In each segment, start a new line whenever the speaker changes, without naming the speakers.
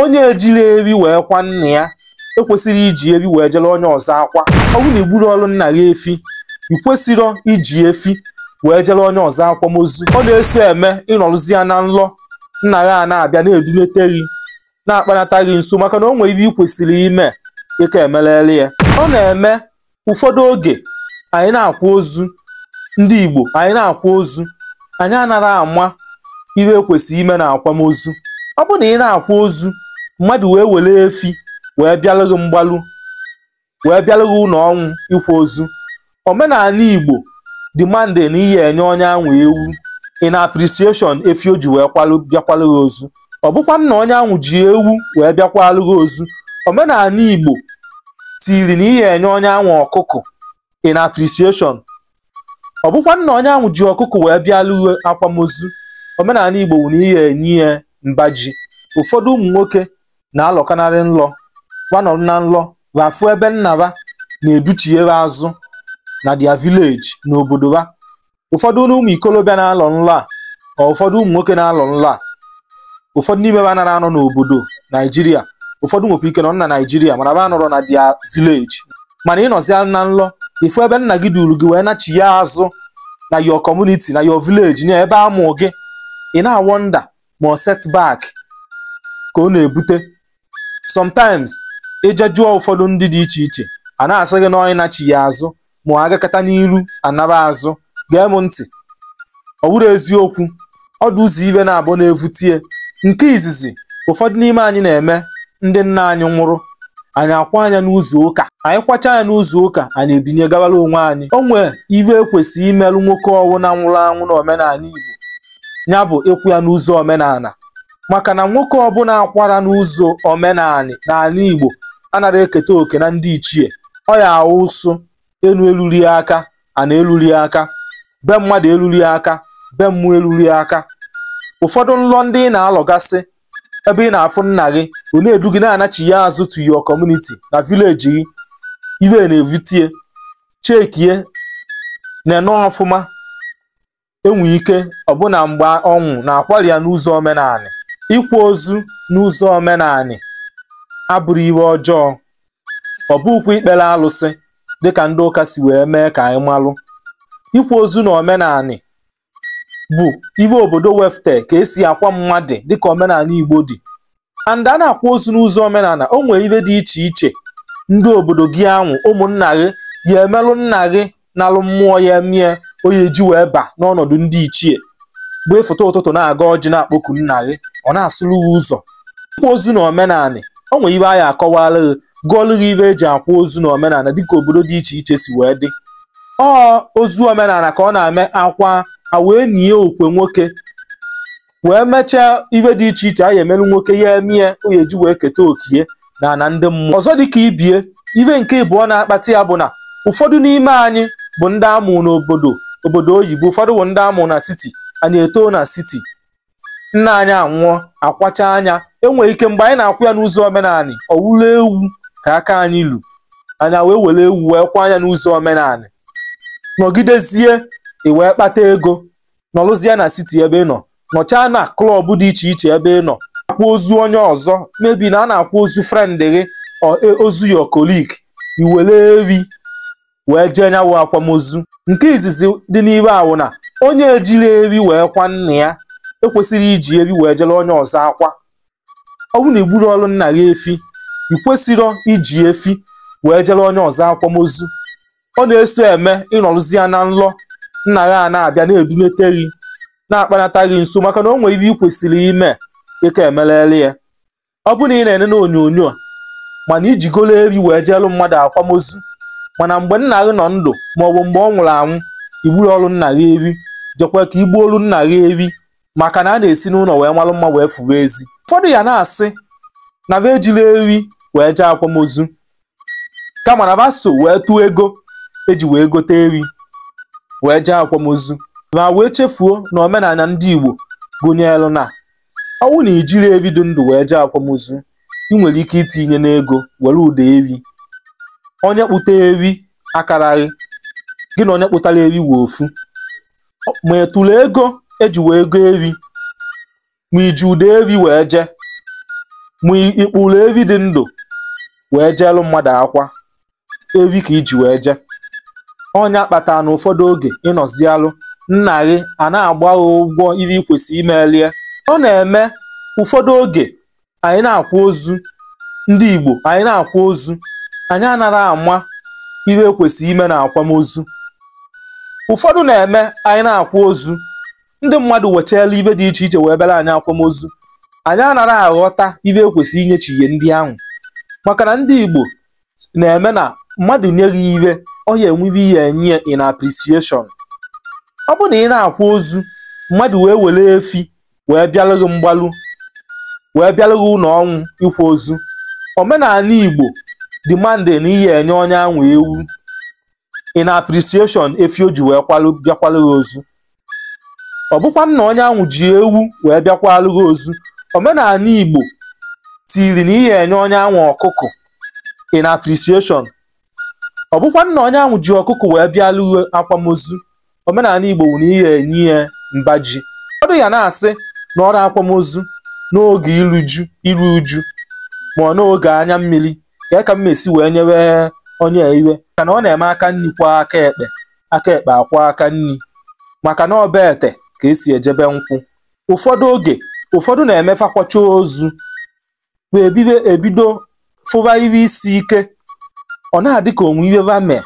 onye ejiri efi wee kwa nna ya ekwesịrị iji efi wee jere onye ọzọ akwa ọ bụrụ na igburọrụ nna gị efi ị kwesịrọ iji efi wee jere onye ọzọ akwamozu ọ na-eso eme ị nọrụzia na nlọ nna gị a na-abịa na-edunete gị na-akpanata gị nso maka na o nwere ihe ị kwesịrị ime ị ka emelele ya ọ na-eme ụfọdụ oge anyị na-akwa ozu ndị Igbo anyị na-akwa ozu anyị anara ama ihe ekwesịrị ime na akwamozu ọ bụ na ị na-akwa ozu mmadụ wee were efi wee bịalụ gị mgbalụ wee bịalụ gị ụlọ ọnwụ ịkwa ozu omenanị Igbo demand na ị ya enye onye ahụ ewu in appreciation efi o ji wee bịakwalụ gị ozu ọ bụkwa na onye ahụ ji ewu wee bịakwalụ gị ozu omenanị igbo tiri na ị ya enye onye ahụ ọkụkụ in appreciation ọ bụkwa na onye ahụ ji ọkụkụ wee bịalụ gị akwamozu omenanị igbo wụ na ị ya enye ya mba ji ụfọdụ ụmụ nwoke na-alọkanarị nlọ ha nọrọ na nlọ ha fụ ebe nna ha na-educhie ha azụ na their village n'obodo ha ụfọdụ ụmụ ikolobịa na-alọ nlọ a ụfọdụ ụmụ nwoke na-alọ nlọ a ụfọdụ n'ime ha nara anọ n'obodo naijiria ụfọdụ nwekwa ike nọ na naijiria mana ha anọrọ na their village mana ị nọzia na nlọ ị fụ ebe nna gị duru gị wee nachiya azụ na your community na your village na ebe amụ gị ị na-awọnda ma ọ setback ka ọ na-ebute sometimes ị je jụọ ụfọdụ ndị dị iche iche a na-asị gị na onye nachiya azụ ma ọ agakata n'iru anaba azụ gee m ntị ọ wụrụ eziokwu ọ dị ụzọ ihe naabụ na-evutie nke izizi ụfọdụ n'ime anyị na-eme ndị nna anyị nwụrụ anyị akwaa nya n'ụzọ ụka anyị kwachaa nya n'ụzọ ụka anyị ebinye gawara onwe anyị o nwee ihe ekwesịrị imerụ nwoke ọwụna nwụrụ anwụ na omenanị Igbo ya bụ ịkwa ya n'ụzọ omenala maka na nwoke ọbụla akwara n'ụzọ omenanị n'ala Igbo anaghị eketa oke na ndị ichie ọ ya awụ ụsụ enu eluri aka ana eluri aka be mmadụ eluri aka be mmụọ eluri aka ụfọdụ nlọ ndị ị na-alọgasị ebe ị na-afụ nna gị ọ na-edu gị na-anachiya azụ to your community na village gị ihe na-evutie chekie na-ene ọfụma e nwe ike ọ bụ na mgbe ọ nwụ na akwari ya n'ụzọ omenanị ịkwa ozu n'ụzọ omenanị abụrụ ihe ọjọọ ọ bụkwa ikpere alụsị dịka ndị ụka si wee mee ka anyị malụ ịkwa ozu na omenanị bụ ihe obodo wefụte ka esi akwa mmadụ dịka omenanị igbo dị and a na-akwa ozu n'ụzọ omenala o nwere ive dị iche iche ndị obodo gị anwụ ụmụnna gị ya emelụ nna gị nalụ mmụọ ya emie ọ ya eji wee ba n'ọnọdụ ndị ichie mgbe ị futa ụtụtụ na-agọ ọjị na-akpọku nna gị ọ na-asụrụ gị ụzọ ịkwa ozu na omenala o nwere ive anyị akọwara gị gụọlụ gị ive eji akwa ozu na omenala dịka obodo dị iche iche si wee dị ọ ozu omenala ka ọ na-eme akwa a wee nie okwe nwoke wee mechaa ife dị iche iche a ya emerụ nwoke ya emie ọ ya eji wee keta okie na ana ndị mmụọ ọzọ dịka ibie ife nke ịbụọ na-akpata ya bụ na ụfọdụ n'ime anyị bụ ndị amụ n'obodo oyibo ụfọdụ bụ ndị amụ na city anyị etoo na city nna anyị anwụọ akwachaa nya enwere ike mgbe anyị na-akwa ya n'ụzọ omenala ọ wụlụ ewu ka aka anyị lu anyị wee were ewu wee kwaa nya n'ụzọ omenala nọgidezie i wee kpata ego nọrụzie na city ebe ị nọ nọchaa na club dị iche iche ebe ị nọ akwa ozu onye ọzọ maybe na a na-akwa ozu friend gị ọ- e- ozu your colleague i were evi wee jee nya wụ akwamozu nke izizi dị n'ive a wụ na onye ejirọ evi wee kwa nna ya ekwesịrọ iji evi wee jere onye ọzọ akwa ọ bụrụ na igburọrụ nna gị efi ị kwesịrọ iji efi wee jere onye ọzọ akwamozu ọ na-eso eme ị nọrụzia n'ụlọ nna gị a na-abịa na-edunete gị na-akpanata gị nso maka na o nwere ive ị kwesịrị ime dịka emelele ya ọ bụ na ị na-ene na onyonyo a ma na ijigolo evi wee jeelụ mmadụ akwamozu mana mgbe nna gị nọ ndụ maọbụ mgbe ọ nwụrụ anwụ igburọrụ nna gị evi jekwa ka igbuolu nna gị evi maka na a na-esi n'ụlọ wee malụ mma wee fụva ezi ụfọdụ ya na-asị na va ejirọ evi wee jee akwamozu kama na va so wee tụọ ego eji wee gote evi wee jee akwamozu ma wee chefuo na omenala ndị Igbo gụnyere na ọ wụ na ijiri evi dị ndụ wee jee akwamozu ị nwere ike itinye n'ego were ụdọ evi onye kpụta evi akarọ gị gị na onye kpụtara evi wụ ofu ma ị tụrụ ego eji wee go evi ma iji ụdọ evi wee jee ma ikpụrụ evi dị ndụ wee jeelụ mmadụ akwa evi ka iji wee jee ọ nya kpatara na ụfọdụ oge ịnọzialụ nna gị a na-agba gị ụgwọ ihe ị kwesịrị imelie ọ na-eme ụfọdụ oge anyị na-akwa ozu ndị Igbo anyị na-akwa ozu anyị anara ama ihe ekwesịrị ime na akwamozu ụfọdụ na-eme anyị na-akwa ozu ndị mmadụ wechaela ive dị iche iche wee bịara anyị akwamozu anyị anara aghọta ive ekwesịrị inyechighie ndị ahụ maka na ndị Igbo na-eme na mmadụ nye gị ihe ọ ya enwe ihe ya enye in appreciation ọ bụ na ị na-akwa ozu mmadụ wee were efi wee bịalụ gị mgbalu wee bịalụ gị ụnọ ọnwụ ịkwa ozu omenanị igbo demand na ị ya-enye onye anwụ ewu in appreciation efi o ji wee bịakwalụ gị ozu ọ bụkwanụ na onye anwụ ji ewu wee bịakwalụ gị ozu omenanị igbo tiri na ị ya-enye onye anwụ ọkụkọ in appreciation ọ bụkwanụ na onye anwụ ji ọkụkọ wee bịalụ gị akwamozu omenanị igbo wụ na ị ya-enye ya mba ji ụfọdụ ya na-asị na ọ wụ akwamozu n'oge iru ju iru uju ma ọ n'oge anya mmiri ka ka m esi wee nyewe onye a ive maka na ọ na-eme aka nni kwọọ aka ekpe aka ekpe akwọọ aka nni maka na ọ be ete ka e si eje be nkwụ ụfọdụ oge ụfọdụ na-eme fa kwachaa ozu wee bido fụba ive isi ike ọ na-adị ka o nwe ive va mee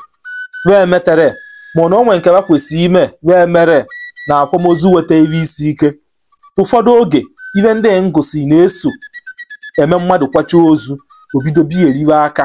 wee metere mana o nwe nke va kwesịrị ime wee mere na akwamozu weta ive isi ike ụfọdụ oge ive ndị ngosi na-eso eme mmadụ kwachaa ozu o bido bieriwe aka